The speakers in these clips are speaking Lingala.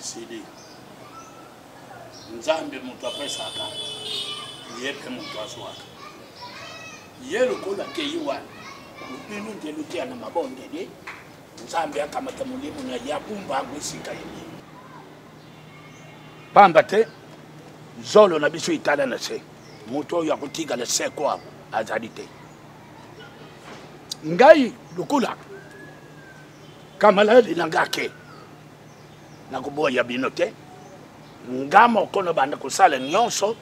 esili nzambe moto apesaka ye mpe moto azwaka ye lokola kei wana bino nde loteya na mabondeli nzambe akamata molimo na ye abumba yango esika ye pamba te zolo na biso etala na se moto oyo akotikala seko yango azali te ngai lokola kamaladi na ngai ake nakoboya bino te nga moko nabanda kosala nyonso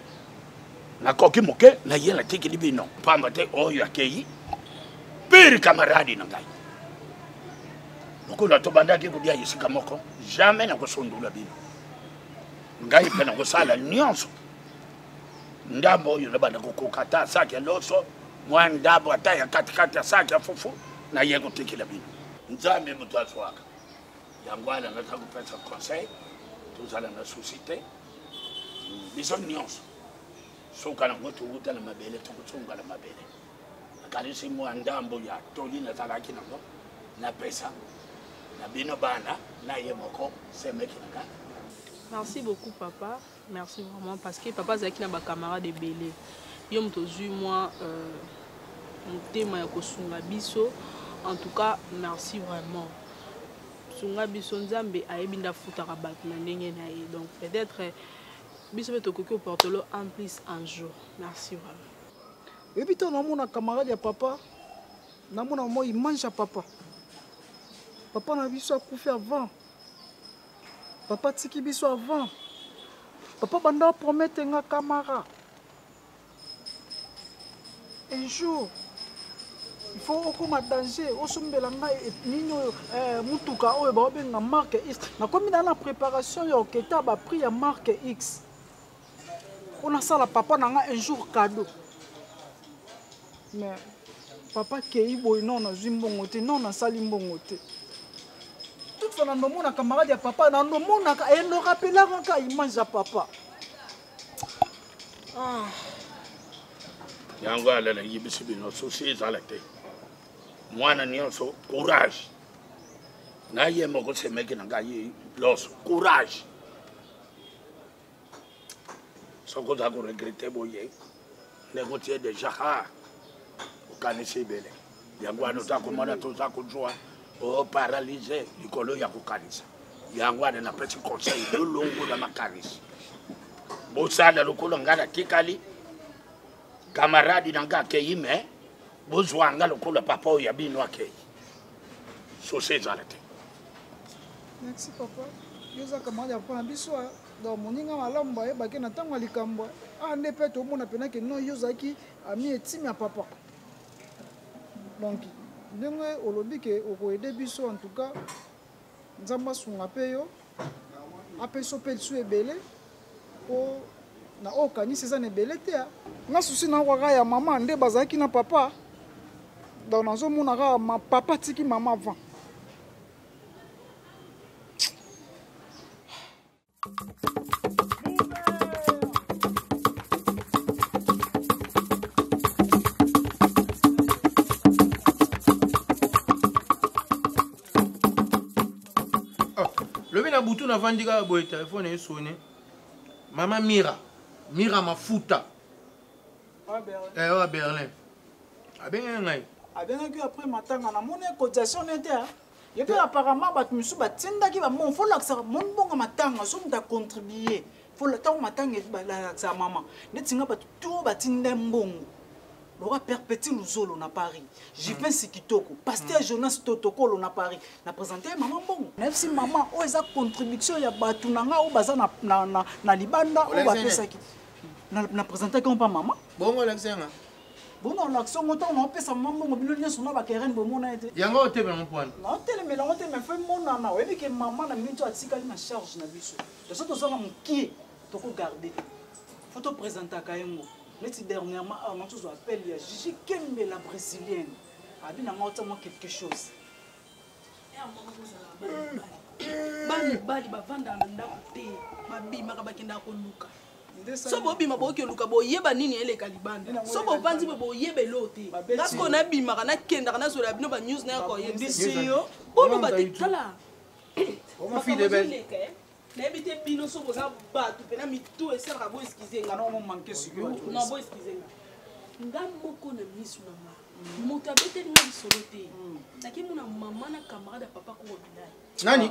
nakoki moke na ye natikili bino mpamba te oyo akei pire kamaradi na ngai lokola tobandaki kolia esika moko jamai nakosundola bino ngai mpe nakosala nyonso ndambo oyo nabanda kokoka ata saki ya loso mwa ndambo ata ya katikati ya saki ya fufu naye kotikela bino nzambe moto azwaka yango wana naza kopesa conseil tozala na susi te biso nyonso suka nango towuta na mabele tokosunga na mabele nakanisi mwa ndambo ya toli nazalaki nango napesa na bino bana na ye moko semeki na ngai merci beaucoup papa merci vraiment parce que papa azalaki na bacamarade ebele yo moto ozwi mwa euh, motema ya kosunga biso en tout cas merci vraiment sunga biso nzambe ayebi nde afutaka bato na ndenge na ye donc peut-être euh, biso mpe tokoki oportolo en plus un jour merci vraiment eyebi ntango namona camarade ya papa namona mwa image ya papa papa na biso akufi avant papa tiki biso avant papa banda promete nga camara un jour il faut okoma danger osombela ngai e, nini oyo eh, motuka oyo baobenga marque x nakomi na na préparation ya oketa baprix ya marque x mpo nasala papa na nga un jour cadeau mais papa kei boye non nazwi mbongo te non nasali mbongo te toute fois nanomona camarade ya papa nanomonaka e norapelaka ka image ya papa ah. yango alela yebisi bino susi ezala te mwana nyonso courage na ye moko semeki na ngai loso courage soki oza koregrete boye ndenge otie deja ha okanisi ebele yango wana oza komona toza kozwa oparalyse oh, likolo ya kokanisa yango wana napesi conseil lolongo na makanisi bosala lokola ngai natikali kamaradi na ngai akei me bozwa ngai lokola papa oyo ya bino akei sosi ezala te merci papa yo oza camarade ya mpona biso donc moninga malamu bayebaki na ntango ya likambo awa nde mpe tomona mpena ke no yo ozalaki ami etime ya papa donc ndenge olobi ke okoede biso en tout cas nzambe asunga mpe yo apesi yo mpe lisu ebele mpo na oyo okanisi eza na ebele te nga susi na kaka ya mama nde bazalaki na papa donc nazomona kaka ma papa atiki mama avant butu navandi kaka boye telefone esone mama mira mira mafuta eh, oyo ya berlin abengaki ngai abengaki yo après matanga namoni cotisation nete ye mpe apparemment bato mosusu batindaki bambongo folakisaka moni bongo matanga so moto acontribue ntango matanga balakisaka mama neti nga bato to batinda mbongo loka perpétue luzolo na paris jupin sikitoko paster jonas totokolo na paris na présente mama mbongo nayebisi mama oyo eza contribution ya bato na ngai oyo baza na, na, na, na libanda oyo bapesaki na, na présentaki mpa mama bongo olakisanga bona olakisi yango ntango naopesa mama mbongo bino nyonso na bakerene bomona ye te yango otemela yango pwana naotelemela yango te mai fo emonana oyebi ke mama na bino nto atikali na charge na biso toso tozanga mokie tokogarde te fo topresentaka ye ngo neti dernièrement awa nao tozwa appel ya jiji kembe la brésilienne abi na ngai otia mwa quelque chose mibali bavandaka na ndako te babimaka bakendaka koluka so bobima boyoki oluka boyeba nini eleka libanda so bovanzi bo boyeba eloo te ngasikoyo nabimaka nakendaka nazwela bino banews nayakoyebisi yo boloba te tala nayebi te bino so boza bato mpena mitu esalaka bo eskize nga non bo eskize nga nga moko na miso na nga moto abeteli nga lisolo te hmm. nake mona mama na camarade ya papa koko bilai nani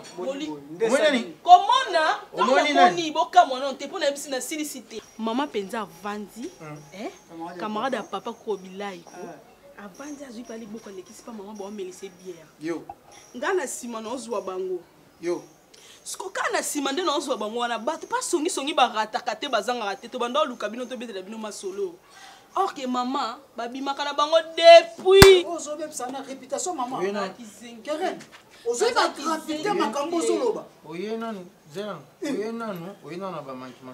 komona omoni bokamwa nano te mpo nayebisi nasilisi te mama mpenza avandi hmm. eh? camarade ya papa koko bilai ko ah. avandi azwi mpe aliboko alekisi mpa mama baomelise biere nga na nsima naozwa bango yo siko kaka na nsima nde naozwa bango wana bato mpa songisongi barataka te bazangaka te tobanda oluka bino tobetela bino masolo or que mama babimaka na bango depuis ozobebisa na réputation mama keren ozwi bagravité makambo ozoloba oye nanu zela oye nanu oye nanu na bamankima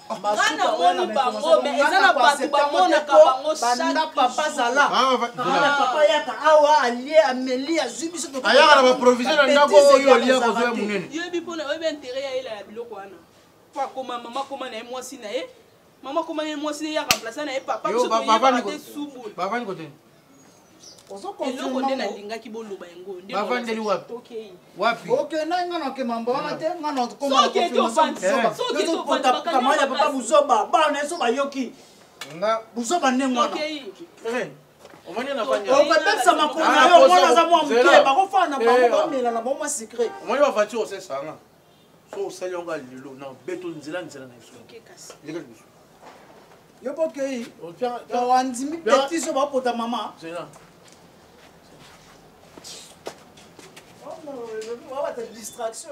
nga namoni bango me eza na bato bamonaka bango chakpapa yaka awa alie ameli azwi biso ayaka na baprovision na ndako oyo olia kozwa ya monene yebi mpona oyebi interet ya yela ya biloko wana po akoma mama akoma na ye mwasi na ye mama akoma na ye mwasi na ye ya remplace na ye papa biso toyebaka te subul eloko nde nalingaki boloba yango bavandeli wapi wapi okendaki nga nake mambo wana te nga nakokotamai ya papa buzoba bana yeso bayoki buzoba ndenge wana okobebisa makolo na yo omwana aza mwa moke bakofana bango bamela na bango mwa secret omoni bavatire osesanga so osali yango lelo na beto nzela nzela na biso leka biso yo bokei andimi petiso bapota mama wabata distraction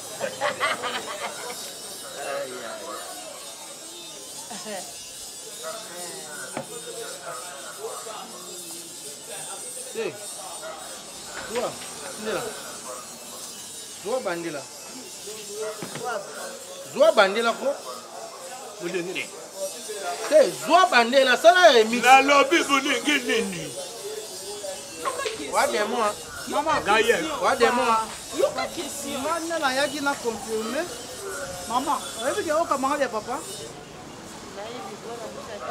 Hey, toi, tu es là. Zwa bandela. Zwa bandela ko. Mulengele. Hey, zwa bandela sala remix. Nalobi mulengele nini? Wa demo. ngai nayaki na confirme mama oyebi ke okamanga ya papa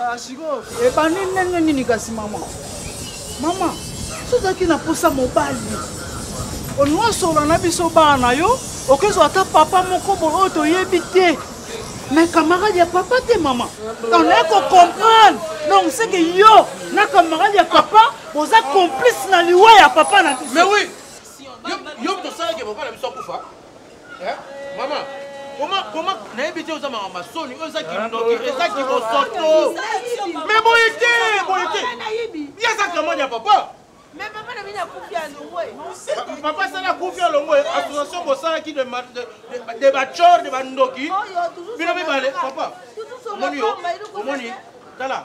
ah, sikoyo ebandi ndenge nini kasi mama mama sozalaki na posa mobali onosola na biso bana yo okozwa ata papa moko boye oyo toyebi te mais camarade ya papa te mama donc naye kocomprendre donc seke yo na camarade ya papa boza complice na liwa ya papa na biso mais oui yo moto osalaki papa na biso akufa mama koma nayebi te oza makambo masoni oyo eza kindoki eza kibosoto me boye te boye te ye aza kamani ya papa papa asala kufi alongo association bosalaki de bacor de bandoki bino mibale papa omoni yo omoni tala